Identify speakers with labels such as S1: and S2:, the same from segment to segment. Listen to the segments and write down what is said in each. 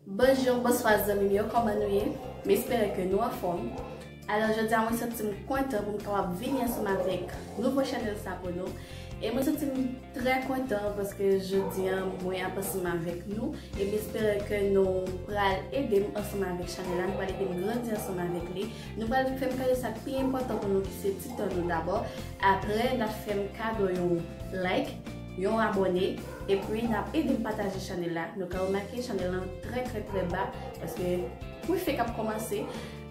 S1: Bonjour bonswa zanmim yo kòman nou ye m espere ke nou anfòm alò jodia mwen santim kontan poum kapab vini ansanm avèk nouvo chanèl sa pou nou e mwen santim trè kontan paske jodia mwen ap ansanm avèk nou e m espere ke nou pral edem ansanm avèk chanèl la nou pral edem grandi ansanm avèk li nou pral fèm kado sa ki pi enpòtan pou nou ki se ti tan nou dabò aprè nap fèm kado yon like. yon abòne epi nap edem pataje chanèl la nou ka remake chanèl lan trè trè trè ba paske mwen fèk ap kòmanse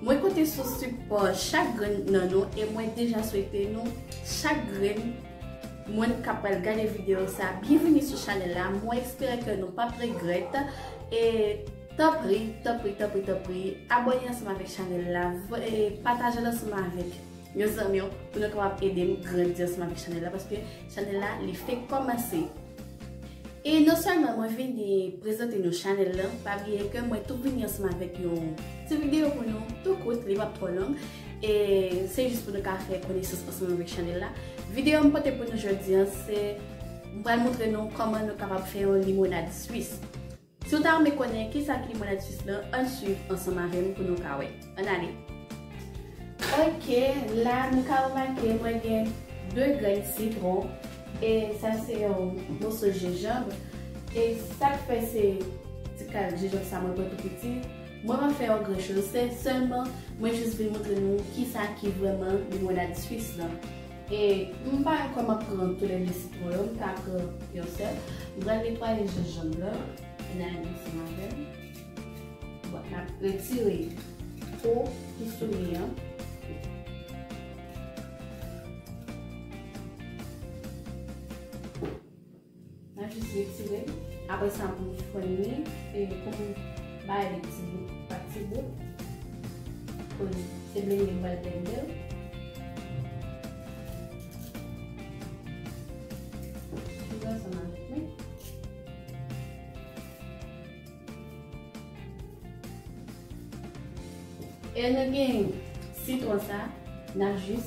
S1: mwen konte sou sipò chak grenn nan nou e mwen deja swete nou chak grenn mwen kap pral gade videyo sa byenvini sou chanèl la mwen espere ke nou pap regrèt e tanpri tanpri tanpri tanpri abòne ansanm avèk chanèl la e pataje l ansanm avèk Yon zanmi yo pou nou kapab ede m grandi ansanm avèk chanèl la paske chanèl la li fenk kòmanse. E non sèlman mwen vini prezante nou chanèl la, pa bliye ke mwen tou vini ansanm avèk yon ti videyo pou nou tou kout, li pap twò long. E se jis pou nou ka fè konesans ansanm avèk chanèl la. Videyo m pote pou nou jodi an se m pral montre nou kòman nou kapab fè yon limonad swis. Si w ta renmen konnen kisa ki limonad swis lan, ann swiv ansanm avè m pou nou ka wè. Ann ale! Ok, la nou ka remake mwen gen 2 grenn sitwon e sa se yon moso jenjanb e sa k fè se ti kal jenjanb sa mwen pran tou piti, mwen pa fè yon gran choz, se sèlman mwen jis vle montre nou kisa ki vrèman limonad swis lan. E m pa kwè m ap pran toulède sitwon yo, m ta pran yon sèl. M pral netwaye jenjanm lan, e n al gen ansanm avè l. Bon, n ap retire po ki sou li an. Mwen jis retire l. Apre sa mwen fwenni e pou m bay li ti bout pa ti bout. Koz se blende m pral blende l. Retire ansanm avèk nou. E nou gen sitwon sa, n ap jis.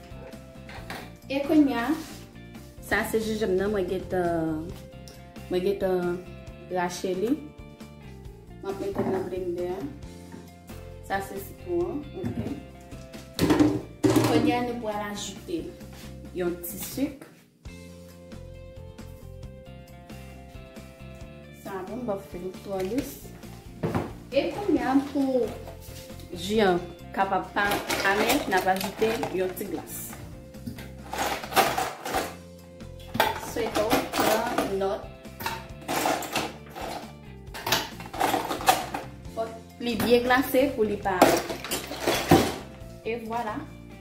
S1: E kounya, sa se jenjanm nan mwen gentan mwen gentan rache li. Mwen ap mete l nan blendè a. Sa se sitwon an, ok. Kounya nou pral ajoute yon ti suk. Sa bon bòf fèm twò dous. E kounya pou ji an kapab pa amè, n ap ajoute yon ti glas. Swete w pran nòt. Fòk li byen glase pou li pa. E vwala,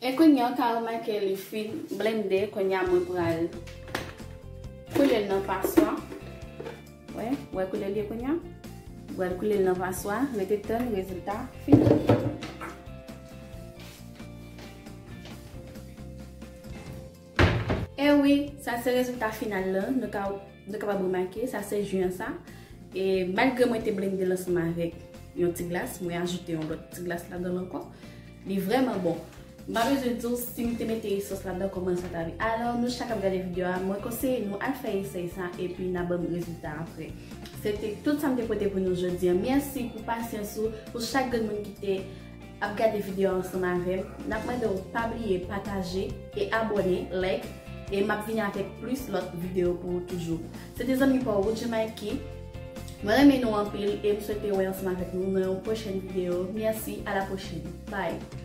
S1: E kounya ou ka remake li fin blende kounya mwen pral koulel nan paswa wè wè koulel ye kounya mwen pral koulel nan paswa rete tann rezilta final. Ewi, sa se rezilta final lan, nou ka nou kapab remake, sa se ju an sa. E malgre mwen te blendel ansanm avèk yon ti glas, mwen ajoute yon lòt ti glas ladanl ankò. Li vrèman bon. M pa bezwen diw sim te mete sos ladan kòman sa ta vi. Alò nou chak kap gade video a, mwen konseye nou al fè esèy sa epi na banm rezilta aprè. Se te tout sam te pote pou nou jodi an. Mèsi pou pasyans ou, pou chak grenn moun ki te ap gade video a ansanm avèm nap mandew pa bliye pataje e abòne like e map vini avèk plis lòt video pou ou toujou se te zanmi paw Woodjee Mikey mwen renmen nou anpil e m swete wè ansanm avèk nou nan yon pwochèn video merci a la pwochèn bye.